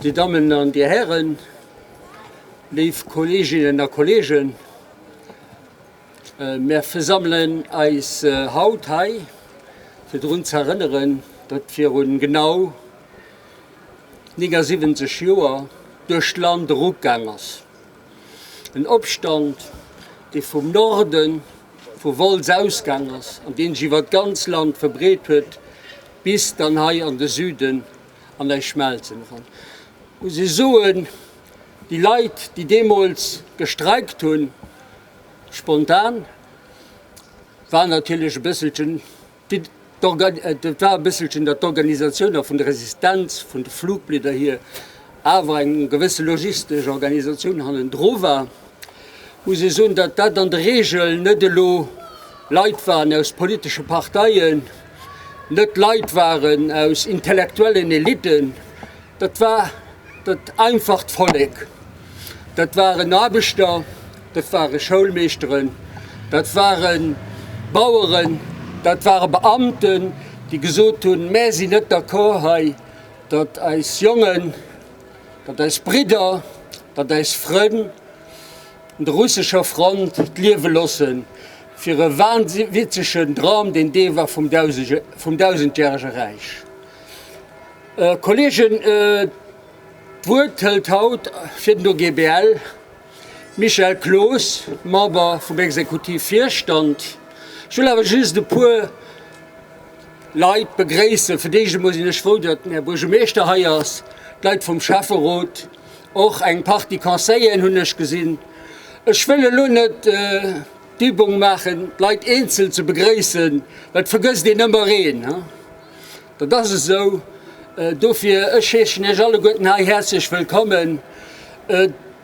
Dir Dammen an Dir Hären, léif Kolleeginnen a Kolleegen, mir versammelen eis haut hei, fir drun ze erënneren, datt virun genau 79 Joer duerch d'Land eruggaang ass. En Opstand, dee vum Norde vu Wolz ausgaang ass an deen sech iwwer d'ganz Land verbreet huet bis dann hei an de Süden an eis Schmelzen eran. Ech muss Iech soen, déi Leit, déi deemools gestreikt hunn, spontan, waren natierlech e bësselchen, Et war e bësselchen der d'Organisatioun a vun der Resistenz vun de Fluchblieder hier, awer eng gewësse logistesch Organisatioun hannendru war, muss ee soen, datt dat an der Regel net elo Leit waren aus politesche Parteien, net Leit waren aus intellektuellen Elitten, dat war dat einfacht Vollek, dat waren Aarbechter. Dat ware Schoulmeeschteren, dat ware Baueren, dat ware Beamten, déi gesot hunn, Mär sinn net d'accord hei, datt eis Jongen, datt eis Bridder, datt eis Frënn un der russescher Front d'Liewe losse fir e wahnwitzegen Dram, deen Deel war vum Dausendjärege Räich. Kolleegen, d'Wuert hëlt haut fir den OGBL. Michel Cloos, Member vum Exekutiv Virstand, Ech wëll awer just e puer Leit begréissen. Fir d'éischt emol sinn ech frou, datt den Här Buergermeeschter hei ass, d'Leit vum Schäfferot, och eng Partie Conseilleren hunn ech gesinn. Ech wëll elo net d'Übung maachen, d'Leit eenzel ze begréissen, well et vergësst een ëmmer een. Dat ass esou. Dofir, ech heeschen Iech alleguerten hei häerzlech wëllkommen.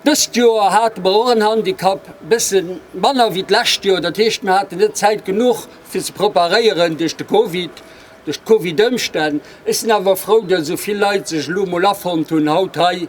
Dëst Joer hate mer och en Handicap, e bësse manner wéi d'lescht Joer. Dat heescht, mir haten net Zäit genuch, fir ze preparéieren duerch de Covid, duerch d'Covid-Ëmstänn. Ech sinn awer frou, datt esou vill Leit sech elo emol afonnt hunn, haut hei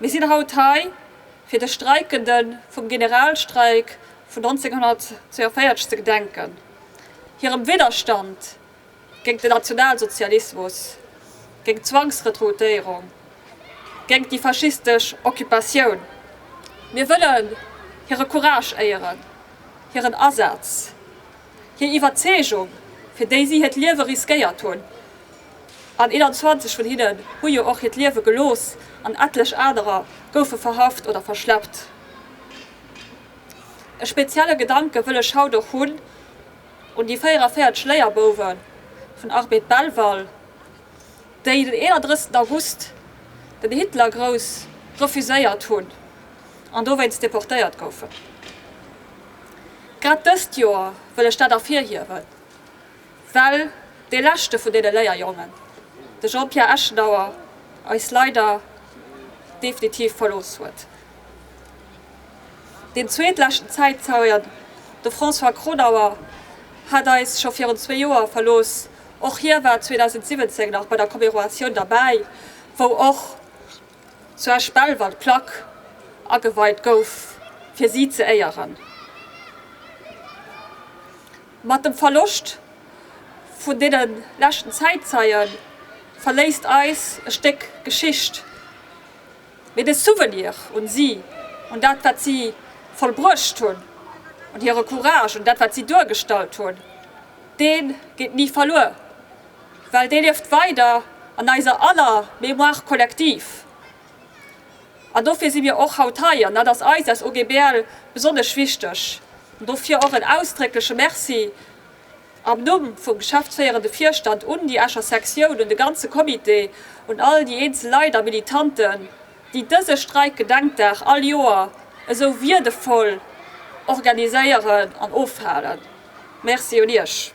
Mir sinn haut hei, fir de Streikende vum Generalstreik vun 1942 ze gedenken, hirem Widderstand géingt den Nationalsozialismus, géingt d'Zwangsrekrutéierung, géingt déi faschistesch Occupatioun. Mir wëllen hire Courage éieren, hiren Asaz, hir Iwwerzeegung, fir déi si hiert Liewe riskéiert hunn. An 21 vun hinnen hu jo och hiert Liewe gelooss an etlech anerer goufe verhaft oder verschleppt. E spezielle Gedanke wëll ech haut och hunn un déi 44 Léierbouwe vun Arbed Belval, déi den 31 August den Hitlergrouss refuséiert hunn an dowéinst deportéiert goufen. Grad dëst Joer wëll ech dat ervirhiewen. Well dee leschte vun deene Léierjongen, de Jean-Pierre Eschenauer, eis leider definitiv verlooss huet. Deen zweetleschten Zäitzeuen, de François Kronauer, hat eis scho virun zwee Joer verlooss. Och hie war 2017 nach bei der Commeroatioun derbäi, wou och zu Esch-Belval d'Plack ageweit gouf fir si ze éieren. Mat dem Verloscht vun deene leschten Zäitzeie verléisst eis e Stéck Geschicht, mee de Souvenir un si, un dat wat si vollbruecht hunn, un hire Courage, un dat wat si duergestallt hunn, dee geet ni verluer, well dee lieft weider an eiser aller Mémoire collective. An dofir si mir och haut hei, an dat ass eis als OGBL besonnesch wichteg. An dofir och en ausdréckleche Merci am Numm vum geschäftsféierende Virstand un déi Escher Sektioun, un de ganze Comité, un all déi eenzel Leit a Militanten, déi dëse Streikgedenkdag all Joer esou wiirdevoll organiséieren an ofhalen. Merci un Iech!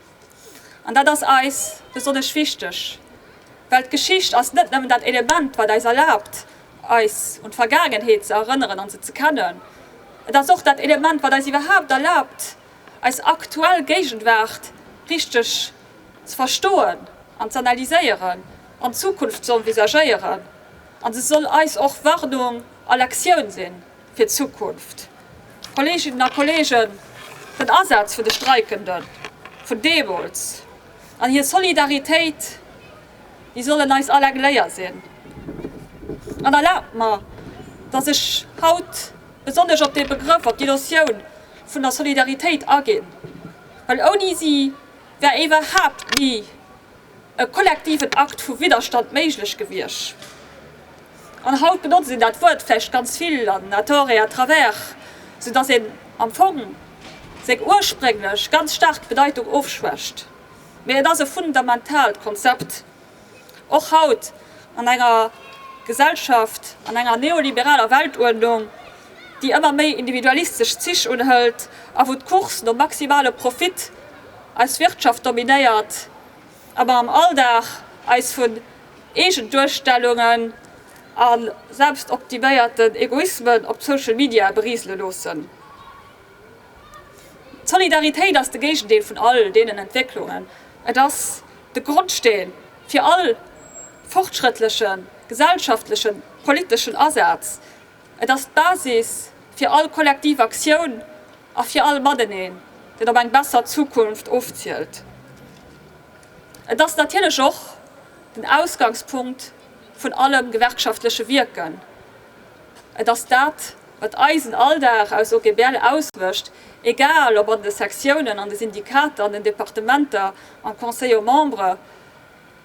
An dat ass eis besonnesch wichteg, well d'Geschicht ass net nëmmen dat Element, wat eis erlaabt, eis un d'Vergaangenheet ze erënneren an se ze kennen. Et ass och dat Element, wat eis iwwerhaapt erlaabt, eis aktuell Géigenwaart richteg ze verstoen an z'analyséieren an d'Zukunft z'envisagéieren. An se soll eis och Warnung a Lektioun sinn. fir d'Zukunft. Kolleeginnen a Kolleegen, den Asaz vun de Streikende vun deemools an hir Solidaritéit, déi sollen eis all eng Léier sinn. An erlaabt mer, dass ech haut besonnesch op dee Begrëff, op déi Notioun vun der Solidaritéit aginn, well ouni si wär iwwerhaapt ni e kollektiven Akt vu Widderstand méiglech gewiescht. An haut benotzt een dat Wuert vläicht ganz vill an à tort et à travers, sou datt een am Fong seng ursprénglech ganz staark Bedeitung ofschwächt. Mee et ass e fundamentaalt Konzept, och haut an enger Gesellschaft, an enger neoliberaler Weltuerdnung, déi ëmmer méi individualistesch Zich unhëlt a wou d'Course nom maximale Profit Eis Wirtschaft dominéiert ëmmer am Alldag eis vun Eegenduerstellungen a selbstoptiméierten Egoismen op Social Media beriisele loossen. D'Solidaritéit ass de Géigendeel vun all deenen Entwécklungen. Et ass de Grondsteen fir all fortschrëttlechen gesellschaftlechen, politeschen Asaz. Et ass d'Basis fir all kollektiv Aktioun a fir all Mateneen, dat op eng besser Zukunft ofzielt. Et ass natierlech och den Ausgangspunkt vun allem gewerkschaftleche Wierken. Et ass dat, wat eisen Alldag aus OGBL ausmécht, egal ob an de Sektiounen, an de Syndikater, an den Departementer, am Conseil aux membres,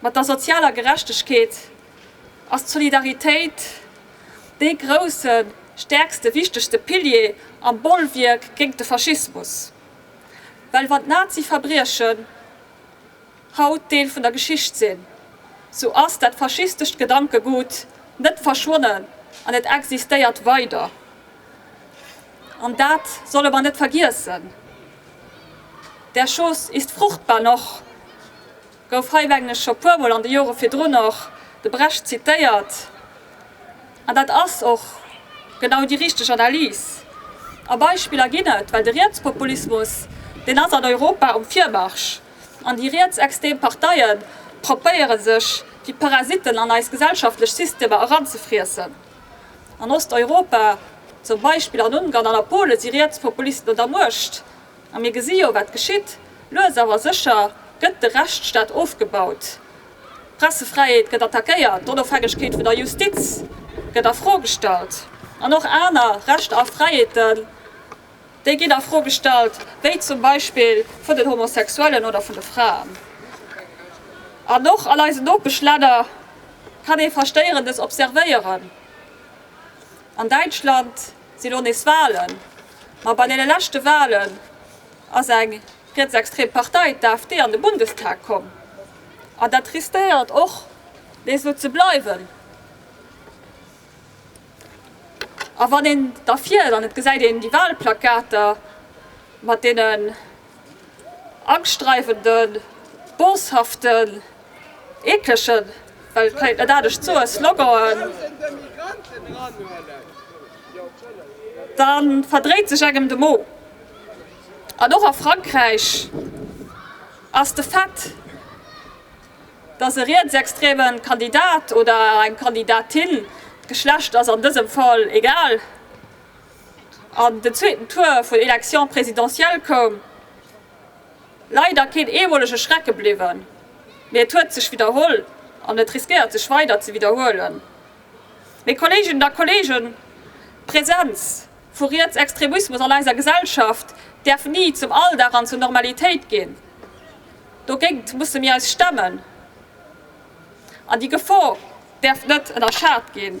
Mat der sozialer Gerechtegkeet ass d'Solidaritéit dee grousse, stäerkste, wichtegste Pilier am Bollwierk géingt de Faschismus. Well wann d'Nazi-Verbriechen haut Deel vun der Geschicht sinn, sou ass dat faschistescht Gedankegut net verschwonnen an et existéiert weider. An dat solle mer net vergiessen. Der Schoß ist fruchtbar noch. Gouf hei mengen ech scho puer mol an de Jore virdrun och de Brecht zitéiert, an dat ass och genau déi richteg Analys. A Beispiller ginn et, well de Rietspopulismus, deen ass an Europa um Virmarsch, an déi rietsextem Parteie propéiere sech wéi Parasiten an eis gesellschaftlech Systemer eranzefriessen. An Osteuropa, zum Beispill an Ungarn an a Pole si Rietspopulisten un der Muecht. A mir gesi jo, wat geschitt. Lues awer sécher gëtt de Rechtsstaat ofgebaut. D'Pressefräiheet gëtt attackéiert, d'Onofhängegkeet vun der Justiz gëtt a Fro gestallt an och aner Rechter a Fräiheeten, déi ginn a Fro gestallt, wéi zum Beispill vun den Homosexuellen oder vun de Fraen. An och an eisen Nopeschlänner kann ee Verstéierendes observéieren. An Däitschland si lo nees Wahlen. Ma bei deene leschte Wahlen ass eng rietsextrem Partei, d'AfD, an de Bundestag komm. An dat riskéiert och nees esou ze bleiwen. A wann een da fiert an et gesäit een déi Wahlplakater mat deene Angstdreiwenden, Boshaften, Eeklechen, well et kéint net anescht soen, Sloganen, da verdréit sech engem de Mo. An och a Frankräich ass de Fait, datt e rietsextreme Kandidat oder eng Kandidatin, d'Geschlecht ass an dësem Fall egal, An den zweeten Tour vun Élections présidentielles koum leider keen eemolege Schrecke bliwwen, mee et huet sech widderholl an et riskéiert sech weider ze widderhuelen. Mee Kolleeginnen a Kolleegen, d'Präsenz vu Rietsextremismus an eiser Gesellschaft däerf ni zum Alldag an zur Normalitéit ginn. Dogéint musse mir eis stemmen an déi Gefor däerf net ënnerschat ginn.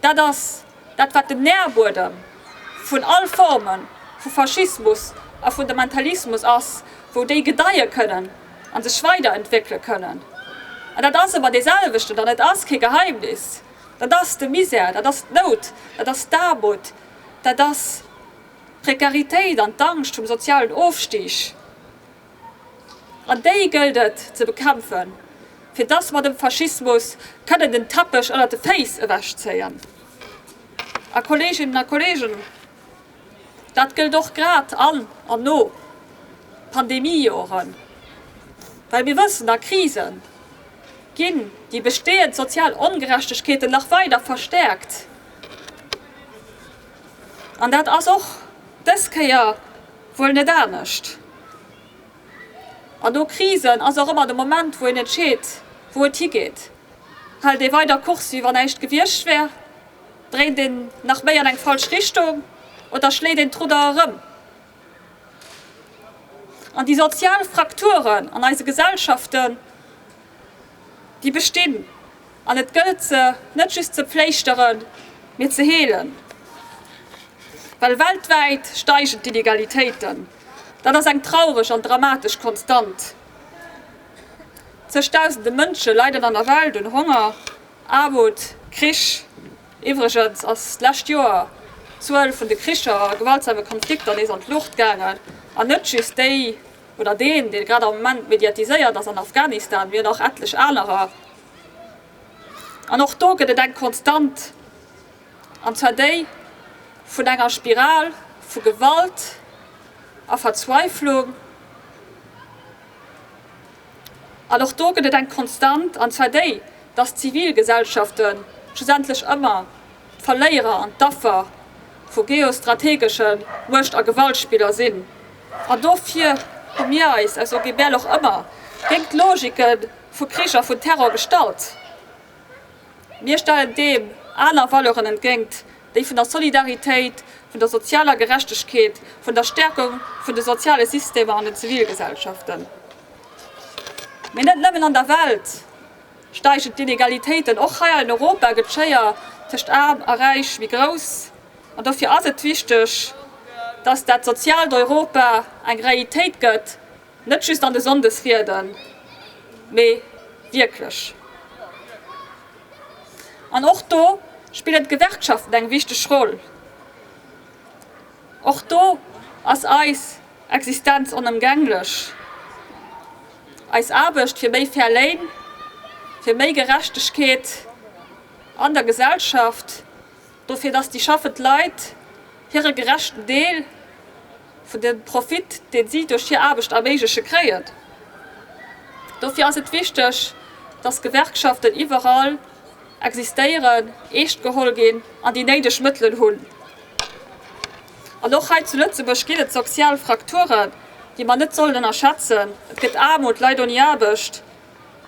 Dat ass dat, wat den Nährbuedem vun all Forme vu Faschismus a Fundamentalismus ass, wou déi gedeie kënnen a sech weiderentwéckele kënnen. An dat ass ëmmer deeselwechten, an et ass kee Geheimnis, dat ass de Misär, dat ass d'Nout, dat ass d'Aarmut, dat ass d'Prekaritéit an d'Angscht vum sozialen Ofstig. An déi gëllt et ze bekämpfen, fir dass mer dem Faschismus kënnen den Teppech ënnert de Féiss ewechzéien. A Kolleeginnen a Kolleegen, dat gëllt och grad an an no Pandemiejoren, well mir wëssen, a Krise ginn déi bestehend sozial Ongerechtegkeeten nach weider verstärkt. An dat ass och dës Kéier wuel net anescht. An no Krisen ass och ëmmer de Moment, wou een entscheet, wou et higeet. Hält ee weider Kurs, wéi wann näischt gewiescht wär? Dréint een nach méi an eng falsch Richtung? Oder schléit een d'Rudder erëm? An déi sozial Frakturen an eise Gesellschaften Déi bestinn, an et gëllt se net just ze pfléischteren, mee ze heelen. Well weltwäit steigen d'Inegalitéiten, dat ass eng traureg an dramatesch Konstant. Zëgdausende Mënsche leiden an der Welt un Honger, Aarmut, Krich. Iwwregens ass d'lescht Joer d'Zuel vun de Kricher a gewaltsame Konflikter nees an d'Luucht gaangen, an net just déi oder deen, dee grad am Moment mediatiséiert ass an Afghanistan, mee nach etlech anerer, an och do gëtt et eng Konstant, an zwar déi vun enger Spiral vu Gewalt a Verzweiflung, an och do gëtt et eng Konstant, an zwar déi, dass d'Zivilgesellschaften schlussendlech ëmmer D'Verléierer an d'Affer vu geostrategeschen Muecht a Gewaltspiller sinn. An dofir hu mir eis aus OGBL och ëmmer géint d'Logike vu Krich a vun Terror gestallt. Mir stellen deem aner Valeuren entgéint, déi vun der Solidaritéit, vun der sozialer Gerechtegkeet, vun der Stäerkung vun de soziale Systemer an den Zivilgesellschaften, mee net nëmmen an der Welt, Steigen d'Inegalitéiten och hei an Europa, gëtt d'Schéier tëscht Aarm a Räich méi grouss. An dofir ass et wichteg, dass dat soziaalt Europa eng Realitéit gëtt, net just an de Sonndesrieden, mee wierklech. An och do spillen d'Gewerkschaften eng wichteg Roll. Och do ass eis. Existenz onëmgänglech. Eis Aarbecht fir méi fair Léin, fir méi Gerechtegkeet an der Gesellschaft, dofir datt déi schaffend Leit hire gerechten Deel vun dem Profit, deen si duerch hir Aarbecht erméiglechen, kréien. Dofir ass et wichteg, datt Gewerkschaften iwwerall existéieren, eescht geholl ginn an déi néideg Mëttelen hunn. An och hei zu Lëtzebuerg ginn et sozial Frakturen, déi mer net sollen ënnerschätzen. Et gëtt Aarmut, Leit ouni Aarbecht,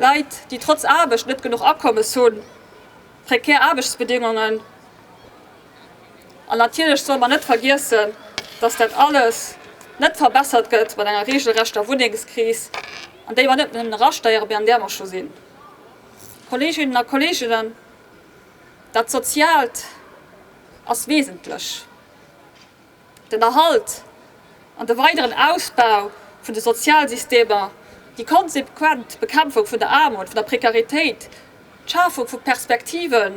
Leit, déi trotz Aarbecht net genuch Akommes hunn, prekär Aarbechtsbedéngungen. An natierlech solle mer net vergiessen, dass dat alles net verbessert gëtt mat enger reegelrechter Wunnengskris, an déi mer net nëmmen erasteieren, mee an där mer scho sinn. Kolleeginnen a Kolleegen, dat soziaalt. ass wesentlech. Den Erhalt an de weideren Ausbau vun de Sozialsystemer, déi konsequent Bekämpfung vun der Aarmut, vun der Prekaritéit, d'Schafung vu Perspektive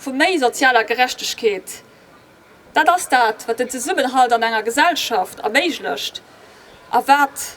vu méi sozialer Gerechtegkeet, dat ass dat, wat den Zesummenhalt an enger Gesellschaft erméiglecht a wat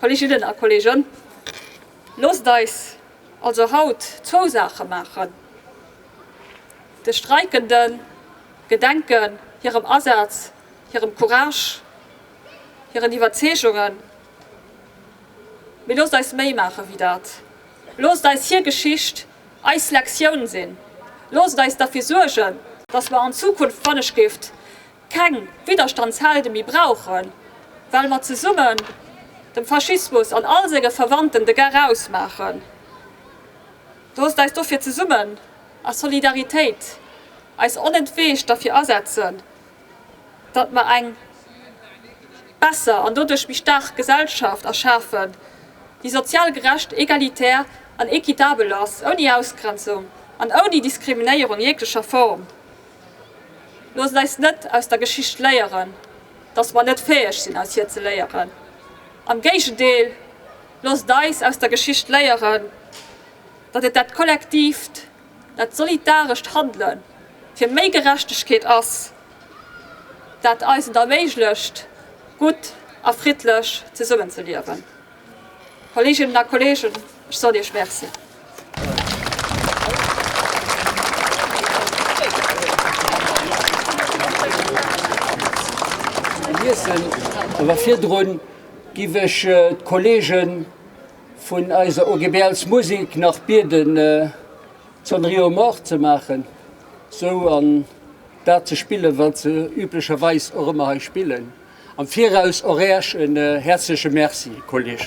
Kolleginnen a Kollegen, loosst eis also haut zwou Saache maachen, de Streikende gedenken, hirem Asaz, hirem Courage, hiren Iwwerzeegungen, mee loosst eis méi maache wéi dat, loosst eis hir Geschicht eis Lektioun sinn, loosst eis derfir suergen, dass mer an Zukunft manneschtgift Keng Widderstandshelden méi brauchen, well mer zesummen dem Faschismus an all senge Verwandten de Gach ausmaachen. Loosst eis dofir zesummen a Solidaritéit eis onentweegt derfir asetzen, datt mer eng besser an doduerch méi staark Gesellschaft erschafen, déi sozial gerecht, egalitär an équitabel ass, ouni Ausgrenzung an ouni Diskriminéierung jeglecher Form. Loosst eis net aus der Geschicht léieren, datt mer net fäeg sinn aus hir ze léieren. Am Géigendeel, loosst eis aus der Geschicht léieren, datt et dat kollektiivt, dat solidarescht Handele fir méi Gerechtegkeet ass, dat eis et erméiglecht gutt a friddlech zesummen ze liewen. Kolleeginnen a Kolleegen, ech soll Iech Merci. Hiessen, awer virdrun giff ech d'Kolleegen vun eiser OGBL's Musik nach bieden d'Sonnerie aux morts ze maachen, esou an dat ze spillen wat se üblecherweis och ëmmer hei spillen. Am Viraus och Äech en häerzleche Merci, Kolleegen.